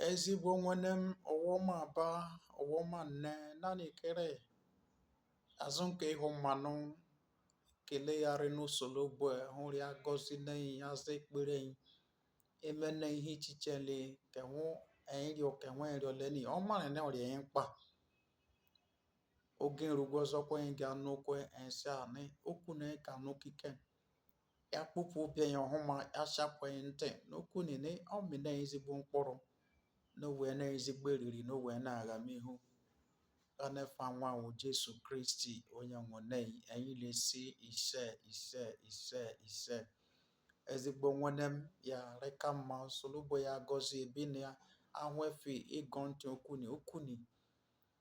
Ezigbo nwene m ọ wụ ma aba ọ wụ ma nne naanị kere azụ ke ihu ma nụ ekele ya rị n'Osolobue hụ rị agọzi enyi aza ekpere enyi. Eme na ihe ichiche le ke hụ enyi rịọ ke hụ enyi arịọleni ọ marị nị ọ rị enyi mkpa. Oge erugwọ ọzọ kwa enyi ga-anụ okwu enyi sị anị okwu na ị ka anụ kiken. ya kpọpụ obi ya ọhụma ya chapụ ị ntị n'okwu nị nị ọ mị nị ị ezigbo mkpụrụ n'onwe nị ị ezigbo eriri n'onwe na aghamihu gha n'efa nwa a wụ jesu kristi onye nwụnei anyị na-esi ise ise ise ise ezigbo nwene m ya rịka mma Osolobue ya gọzi ebe nị a hụ efe ịgọ ntị okwu nị okwu nị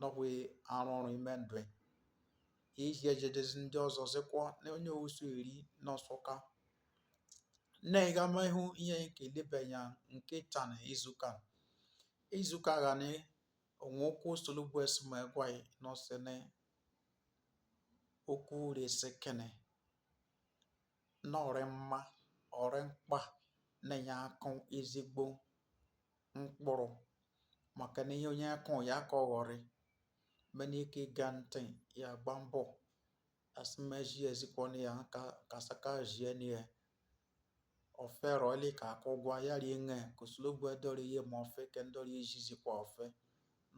nọkwa arụ ọrụ ime ndụ ị iji ejedezi ndị ọzọ zịkwa na onye owusu eri n'ọsụka na ịghama ihu ihe enyi ke elebe enya ke tanị izuka izuka gha nị ọ wụ okwu Osolobue sị mụ gwa ị nọ sị nị okwu resi kene nị ọ rị mma ọ rị mkpa nị enyi akụ ezigbo mkpụrụ makeni ihe onye kụ ya ka ọ ghọrị ma nị i ke egọ ntị ya gba mbọ a sị m ejizikwana ya aka saka jie na ya ofe rị ọlị ka akụ gwa ya rie nge ke Osolobue edọrọ ihe ma ofe ke ndọrọ ejizikwa ofe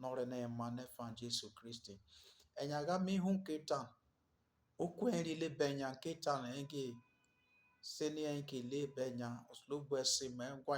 nọrị na ịma n'efa Jesu Kristi enyi aghama ihu ke taa okwu enyi rị elebe enya ke taa na ege sị nị enyi ke elebe enya Osolobue sị m gwa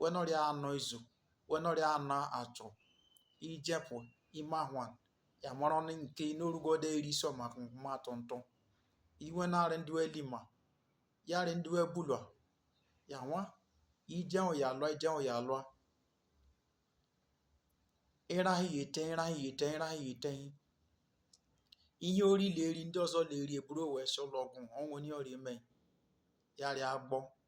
we nọrị anọ izu we nọrị anọ achọ ijepụ ime ahụ ya mara ọnụ nke n'orugo de eri so maka nkwụma atọ ntọ iwe narị ndị we lima ya rị ndị we bulụa ya nwa ije ya alụa ije ya alụa ịrahị ete ịrahị ete ịrahị ete ihe o ri le eri ndị ọzọ le eri e buru wee sị ụlọ ọgwụ ọ wụ onye ị rị eme ya rị agbọ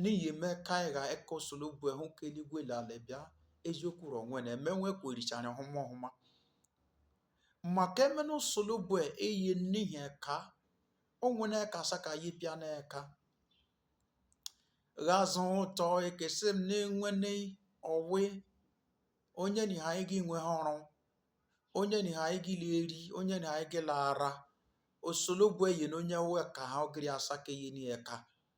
Ni ihe me ka a gha ekọ Osolobue hụ ke eligwe le alị bịa eziokwu rọ nwe na eme nwe ka oricha anyị ọhụma ọhụma. Maka eme na Osolobue eye n'ihi eka o nwe na ka asa ka anyị bịa na eka ghazụ ụtọ ekesị m na-enwe na ọwe onye na ha anyị gị nwe ha ọrụ onye na ha anyị gị la eri onye na ha anyị gị la ara Osolobue eye na onye nwe ka ha ọgịrị asa ka eye ni eka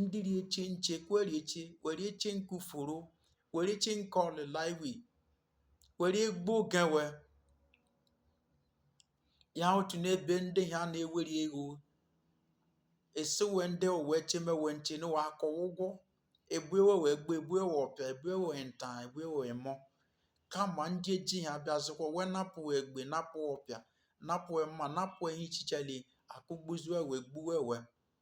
ndị rị eche nche kwere eche we rị eche nke uforo we rị eche nke ọlịla iwi were egbo gawa ya otu n'ebe ndị ha na-ewere ego esiwe ndị owe chemewe nche na wa akwụ ụgwọ ebu we egbe ebu we ọpịa ebu we nta ebu we mma kama ndị eji ha bịazikwa wee napụ egbe napụ ọpịa napụ mma napụ ihe ichichele akụgbuzi wee gbuwe wee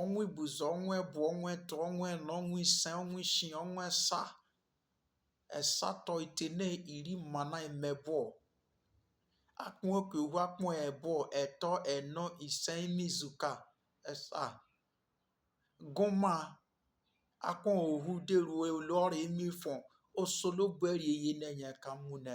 ọnwa ibuzọ ọnwa ebụọ ọnwa etọ ọnwa enọ ọnwa ise ọnwa isii ọnwa esa esatọ itene iri mmana mmebụọ akpụ oke ohu akpụ ebụọ etọ enọ ise ime izuka esa gụma akpụ ohu deruo olu ọrụ ime ifọn Osolobue rị eyeni ye eka mụ na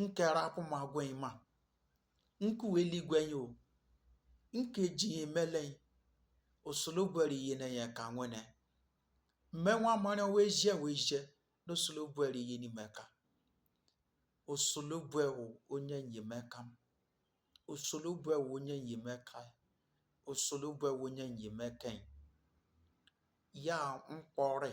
nke rapụ m agwa ị ma nke uwe eluigwe ya o nke ji ya emele ya Osolobue rị eyeni ya eka nwene mmenwa mara wee jie wee jie na Osolobue rị eyeni m eka Osolobue wụ onye enyemaka m Osolobue wụ onye enyemaka ya Osolobue wụ onye enyemaka ya ya mkpọrị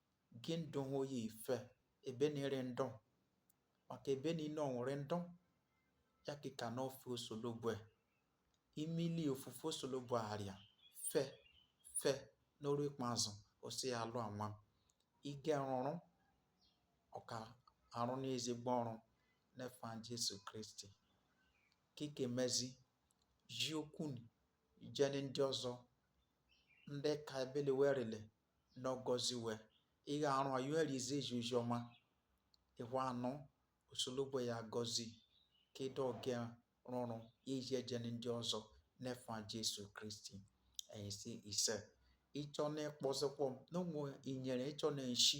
gị ndụ ha oyi ife ebe ni rị ndụ maka ebe niile ọ nwere ndụ ya kịka n'ofe Osolobue imili ofufe Osolobue arịa fe fe n'oru ikpeazụ osi ya alụ anwa ike rụrụ ọka arụ n'ezigbo ọrụ n'efa Jesu Kristi kike mezi ji okwu jeni ndị ọzọ ndị ka ebele werele n'ọ gọzi we ịgha arụ a yọọ erizi eji ozi ọma ịhwa anụ Osolobue ya gọzi ka ịdọ oge rụrụ ya eji ejeni ndị ọzọ n'efa Jesu Kristi anyị si ise ịchọ na-ekpọzikwa m na ụmụ inyere ịchọ na-eshi